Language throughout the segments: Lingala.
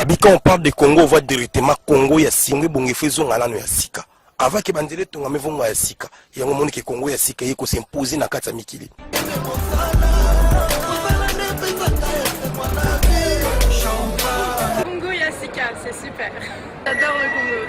Abi quand on parle de Congo, on voit directement Congo ya singo ebonga efo ezonga nano ya sika. Avant ke bandele tonga mevonga ya sika. Yango moni ke Congo ya sika yeko s'imposer na kati ya mikili. Congo ya sika, c'est super. J'adore le Congo.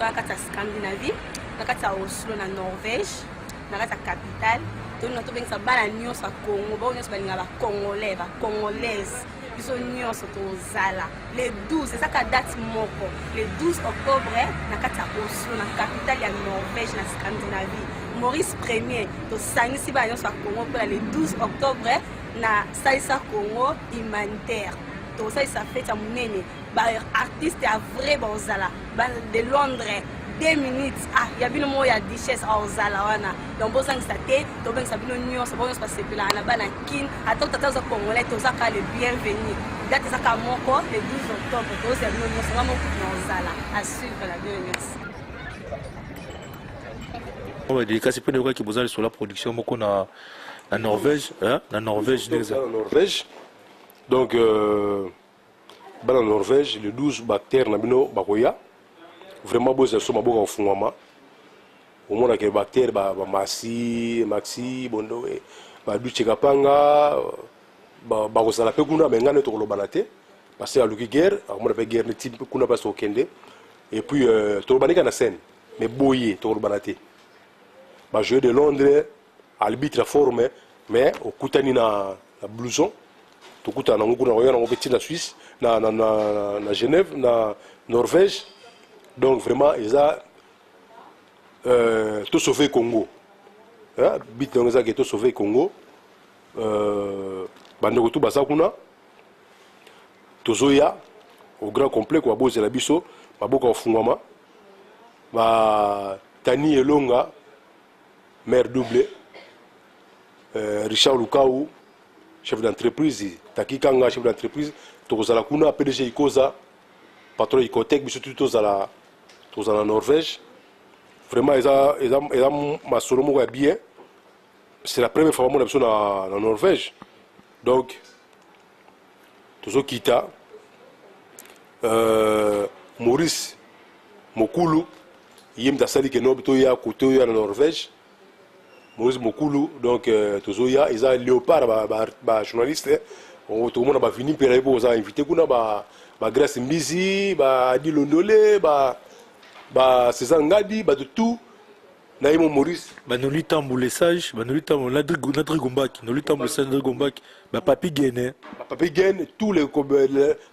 na kati ya scandinavie na kati ya oslo na norvège na kati ya capitale tolina tobengisa bana nyonso ya congo bao nyonso balinga bacongolais bacongolaise biso nyonso tozala le 12 ezaka date moko le 12 octobre na kati ya oslo na capitale ya norvège na scandinavie maurice premier tosangisi bana nyonso ya congo mpona le 12 octobre na salisa congo humanitaire tokosalisa fete ya monene ba artiste ya vrai bozala ba de londres 2 minutes ah ya bino moko ya duchesse aozala ah, wana donc bozangisa te tobengisa bino nyonso bonso basepelaka na bana kin ata tata oza congolais tozaka le bienvenu date ezaka moko le 12 octobre tozala bino nyonso nga moko na ozala a suivre la bino nyonso oyo delikasi mpe nayokaki boza lisola production moko na na norvège na norvège norvège donc euh... Bana Norvège le 12 ba acteurs na bino bakoya vraiment bozela so maboka kofungwama omona ke ba acteurs ba, ba Maxi, Maxi Bondowe ba Duce Kapanga bakozala ba pe kuna mais ngane tokolobana te parce que aluki guerre akomona pe guerre neti kuna place tokokende et puis euh, tolobani kaka na scène mais boye tokolobana te ba jeux de Londres Albitre fort mais mais okutani na na blouson tokutana nango kuna koya nango mpe ti na Suisse na, na, na, na Genève na Norvège donc vraiment eza euh, to sauver Congo hein? bit nango eza ke to sauver Congo euh, bandeko tu baza kuna tozoya au grand complet kwa bozela biso maboko ya kofungwama batani elonga Mère double, euh, Richard Lukau, chef d'entreprise, Taki Kanga, chef d'entreprise, tokozala kuna PDG Ikoza, patron ya Icotec, biso tout tozala tozala na Norvège. Vraiment eza eza eza masolo moko ya bien. C'est la première fois bamona biso na na Norvège. Donc tozo kita euh, maurice mokulu ye moto asali ke nob toya kote oyo ya na norvège maurice mokulu donc euh, tozoya eza léopard bajournaliste ba, ba eh. tokomona bavini mpela ye mpo oza invité kuna ba, ba grace mbizi ba dilondole ba, ba césar ngadi bato tout na ye mo maurice banoli tambu le sage banoli tambu na drigombaki noli tambu le sage drigombaki bapapi gene bapapi gene tous les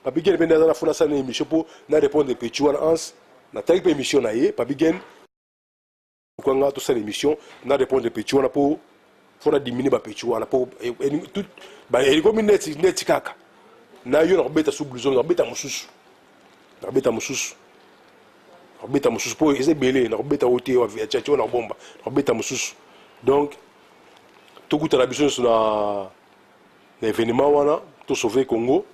papi gene mpe nde aza na fona asala na émission mpo na répondre petit wana ans natali mpe émission na ye papi gene kwanga tosala émission na répondre petit wana mpo faut na diminue ba petit wana po tout ba elikomi neti neti kaka na yo na kobeta sous blouson na kobeta mosusu na kobeta mosusu na kobeta mosusu po eza ebele na kobeta oyo te ya chacho na kobomba na kobeta mosusu donc tokutana biso nyonso na na événement wana tosauve congo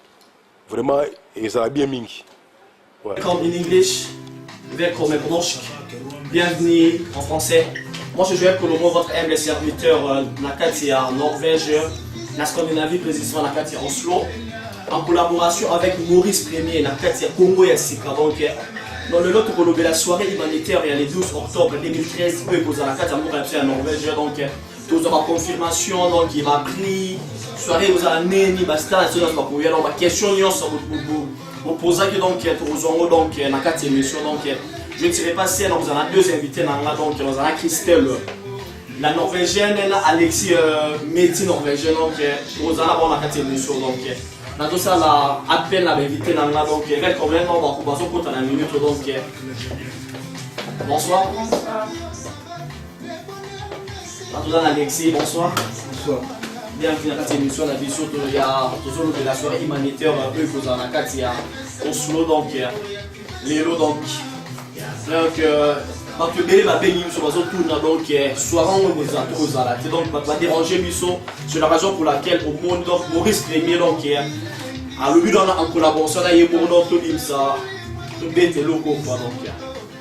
Vraiment ezala bien mingi. Ouais. Comme in English, Vekro Mebroshk, bienvenue en français. Moi je jouais Colombo, votre humble serviteur euh, na kati ya Norvège, na Scandinavie, précisément na kati ya Oslo, en collaboration avec Maurice Premier na kati ya Congo ya Sika. Donc, dans le lot tokolobela soirée humanitaire ya le 12 octobre 2013 oyo ekozala kati ya mboka ya biso ya Norvège. Donc, tozwa ba confirmation donc ye ba prix soirée ozala neni ba star na sona bakoya donc ba question nyonso bopozaki donc tokozwa yango donc na kati ya émission donc je ne serai pas seul donc ozala deux invités na nga donc ozala Christelle la norvégienne na Alexis euh, Meti norvégien donc ozala bon na kati ya émission donc nazosala appel na bainvité na nga donc red problème bango bazokota na minute donc bonsoir, bonsoir. Batoza na Alexis, bonsoir. Bonsoir. Bienvenue na kati ya émission na biso to ya tozolobela soirée humanitaire oyo ekozala na kati ya Oslo donc lelo donc donc euh, bato ebele babengi biso bazotuna donc euh, soirée yango ekozala tokozala te donc bato badérange biso sur la raison pour laquelle omoni donc Maurice Premier donc euh, alobi wana en collaboration na ye moko donc tobimisa tobeta eloko mpo donc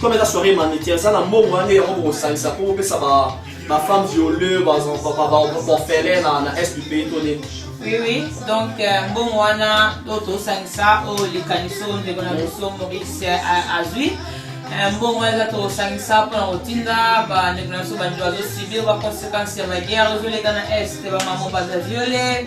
Comme eza soirée humanitaire, eza na mbongo wana yango bokosangisa mpo bopesa ba ba femmes violées, ba orphelins na na est du pays to nini. Oui, oui. Donc, euh, mbongo wana to tosangisa oyo likanisi oyo ndeko na biso Maurice euh, azwi Euh, mbongo wana eza tosangisa mpona kotinda bandeko na biso bandeko bazosibir baconséquence ya baguerre ezoleka na est bamamo baza viole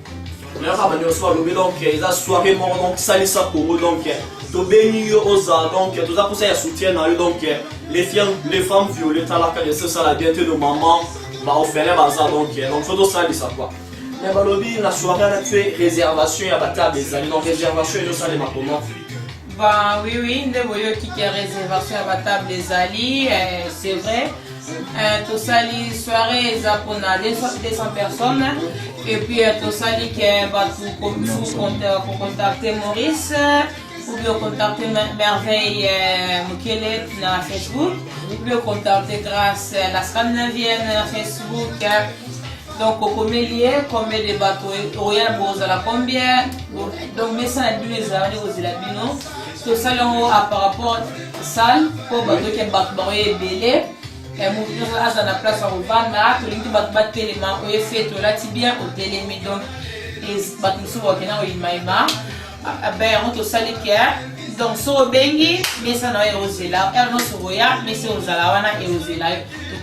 oyaka banionso balobi donc eza soirée moko donc salisa congo donc tobengi yo oza donc toza mposa ya soutien na yo donc les femmes viole talaka de sosala bien te no maman baofele baza donc donc so tosalisa kua mais balobi na soirée na tue réservation ya batable ezali donc réservation ezosalema comment Bah oui, oui, nde boyoki ke réservation ya batable ezali, eh, c'est vrai. Euh, tosali soirée eza mpona 200 personnes et puis euh, tosali ke bato kocontacte maurice ou bien contacte merveille euh, mokele na facebook ou bien contacte grâce la scandinavienne na facebook donc okomeli ye combien de bato oya bozala combien donc mesa na bino ezalani kozela bino tosali yango a par rapport salle mpo bato oke bato bango ye ebele eh, moto nyonso aza na place ya kovanda tolingi te bato batelema oye fete olati bien otelemi donc bato mosusu bakenda koyimayima be yango tosali ke donc so obengi mesa na yo ekozela heure nyonso okoya mesa ekozala wana ekozela yo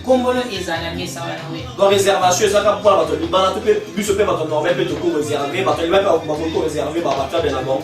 kombolo ezala mesa wana we donc réservation ezaka mpona bato libala to mpe biso mpe bato normal mpe tokoreserve bato libala mpe bakoki koreserve babatable na bango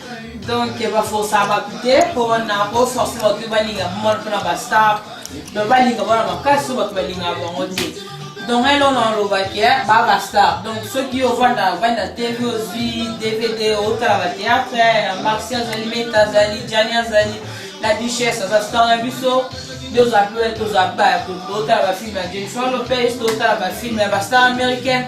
donc ba forsa bato te mpo wana o force bato te balinga bomona mpo na bastar donc balinga bona makasi so bato balingaka bango te donc ele ona olobaki ba bastar donc soki ovanda ovandi na tv ozwi dvd otala bateatre maxi azali meta azali jani azali la duchesse aza star na biso tozwa mpe tozwa ba totala bafilme ya jennifer lopez totala bafilme ya bastar américaine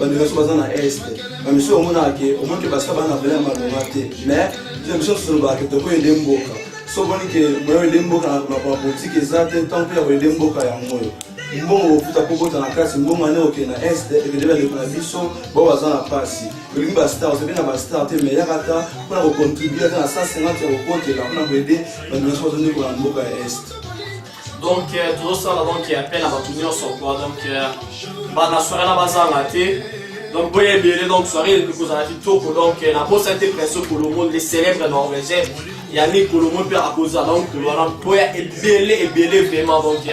bandeko biso baza na est bamisu omonaka ke omonike basika bana bela ya malonga te mais bino biso tosolobaka ke tokoyende mboka so omoni ke moya oyende mboka na makambo politike eza te ntango mpe ya koyende mboka yango oyo mbongo okuta mpo bota na kati mbongo ane okee na est ekende bandeko na biso bao baza na mpasi olingi bastar osepe na bastar te mais yaka ata mpo na kocontribue ata na 150 ya kokotela mpo na koyede bandeko na biso bazondekola na mboka ya est donc euh, tozosala donc appel na bato nyonso kua donc euh, bana soirée na bazanga te donc boye ebele donc soirée elingi kozala kitoko donc euh, nabosani te preso kolomo le célèbre norvégien yanni kolomo mpe akozala donc wana mpo ya ebele ebele vraiment donc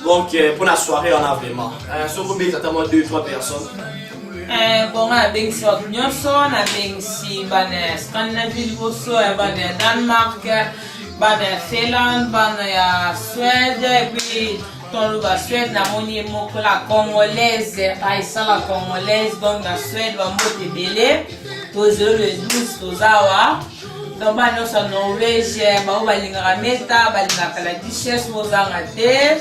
donc mpo na soirée wana vraiment soki obeta ata mwa 2 3 personnes Eh, bonga nabengisi bato nyonso nabengisi bana ya scandinavie liboso ya bana ya danemark bana ya Finlande, bana ya Suède, et puis ton loba Suède na moni moko la congolaise, aisa la congolaise, donc na Suède ba mbote ebele, tozelo le 12 tozawa. Donc ba nyoso Norvège, ba balingaka meta, balingaka la duchesse bozanga te.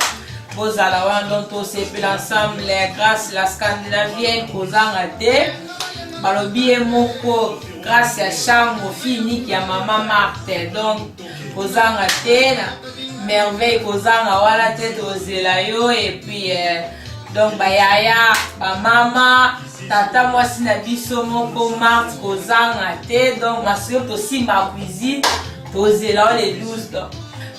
Bozala wana donc tosepela ensemble grâce la scandinavienne kozanga te. Balobi ye moko grâce ya shango fille unique ya mama marthe donc kozanga te na merveille kozanga wana te tozela yo epuis eh, donc bayaya bamama tata mwasi na biso moko marthe kozanga te donc masolo tosimba cuisine tozela yo le 12 donc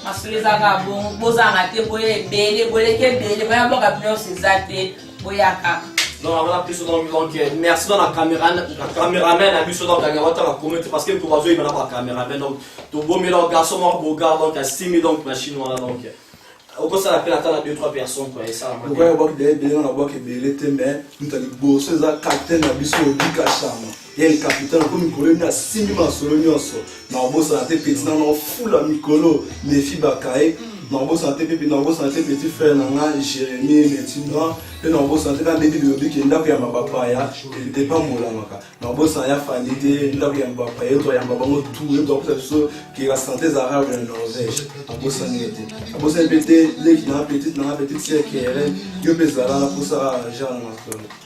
masolo ezaka bongo bozanga te boye ebele boleki ebele baya boka bino nyonso eza te boyaka donc awana biso donc donc euh, merci dans la caméra la caméraman na biso donc anga wata la communauté parce que to bazo yeba na ba caméraman donc to bomi donc garçon mort beau gars donc asimi donc machine wana donc euh, okosala mpe ata na 2 3 personnes kua esalamaokoya bwaki deye deye na bwaki ebele te mais moto ya liboso eza capitaine na biso obika shama El Capitan ako mikolo nde asimbi masolo nyonso nakobosana te peti nano ofula mikolo nefi bakaye nakobosana te mpe nakobosana te petit frère na nga jérémie metinwa mpe nakobosana te na ndenge bilobi ke ndako ya mabapaya epambolamaka nakobosana ya fandi te ndako ya mabapaya eto ayamba bango tu eto akosa biso ke la santé eza rare ya norvège abosani ye te abosani mpe te leki na nga petite na nga petite sœur kere yo mpe ezala na posa genre na masolo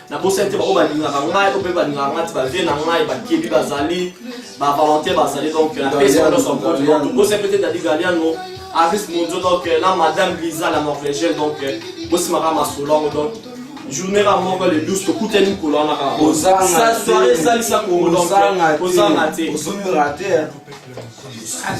nabosani te bango balingaka ngai oyo mpe balingaka ngai ti bavie na ngai bakebi bazali bavolontaire bazali donc napesi bango nyonso mpote donc tobosani mpe te dadi galiano aris mondio donc na madame lisa la norvégienne donc bosimaka masolo yango donc journée ka moko le 12 tokutani mokolo wana kaka soirée esalisa kongo donc kozanga te